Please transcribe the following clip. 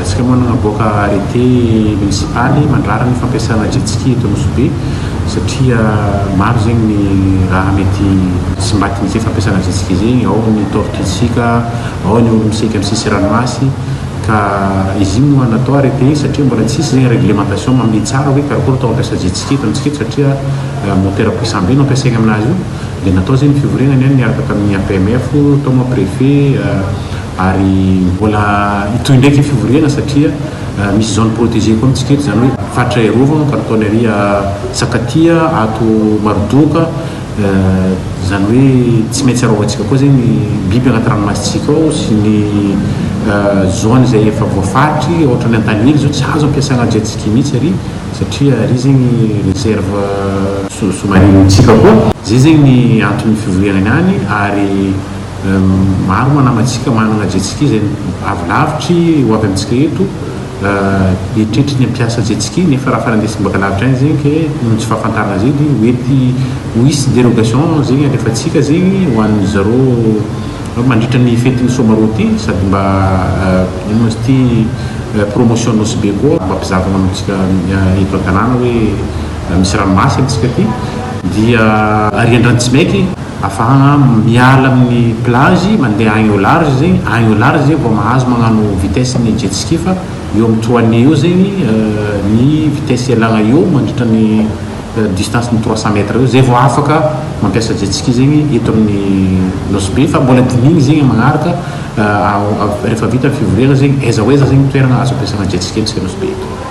Resaka moa nanaboaka arrêté municipaly mandrara ny fampiasana jet ski eto Nosy-Be satria maro zegny ny raha mety tsy mbatin ze fampiasana jet ski ze, ao ny tortue tsika, ao ny olo misaiky am sisy ranomasy ka izy io moa natao arrêté satria mbola tsisy zegny réglementation mamehy tsara hoe karakory atao mampiasa jet ski eto amitsika eto satria moteur puissant be no ampiasaigny aminazy io de natao zegny ny fivoriagna niany niaraka tamin'ny APMF tao moa préfet Ary mbola hitohy indray ity fivoriana satria misy zone protegee koa amintsika eto, izany hoe faritra iarovana, Canton ery Sakatia, ato Marodoka, izany hoe tsy maintsy arovantsika koa izay ny biby anaty ranomasintsika ao sy ny zone izay efa voafaritry, ohatran'ny Antanily izao tsy azo ampiasana jet-ski mihitsy ery satria ery zegny reserve sous-marine-ntsika koa, izay zegny ny anton'ny fivorianany any ary. Maro moa namantsika manana jetski izay avo lavitry ho avy amintsika eto, eritreritry ny hampiasa jetski nefa raha fa nandeha simbaka lavitra any zegny ke noho ny tsy fahafantarana zegny de mety ho hisy derogation zegny alefantsika zegny ho an'ny zareo mandritra ny fetin'ny soamarô ty sady mba ino ma izy ty promotion nosy be koa mba mpizahava manontsika eto an-tanàna hoe misy ranomasy amintsika ty dia arian-drano tsy maiky. Afahagna miala amin'ny plage mandeha agny au large zegny, agny au large zay vao mahazo magnano vitesse ny jet ski fa eo amin'ny trois nez eo zegny ny vitesse ialagna eo mandritra ny distance ny trois cent mètres eo zay vao afaka mampiasa jet ski zegny eto amin'ny Nosy Be fa mbola dinihigny zegny magnaraka rehefa vita ny fivoriagna zegny aiza ho aiza zegny toeragna azo ampiasagna jet ski amintsika Nosy Be eto.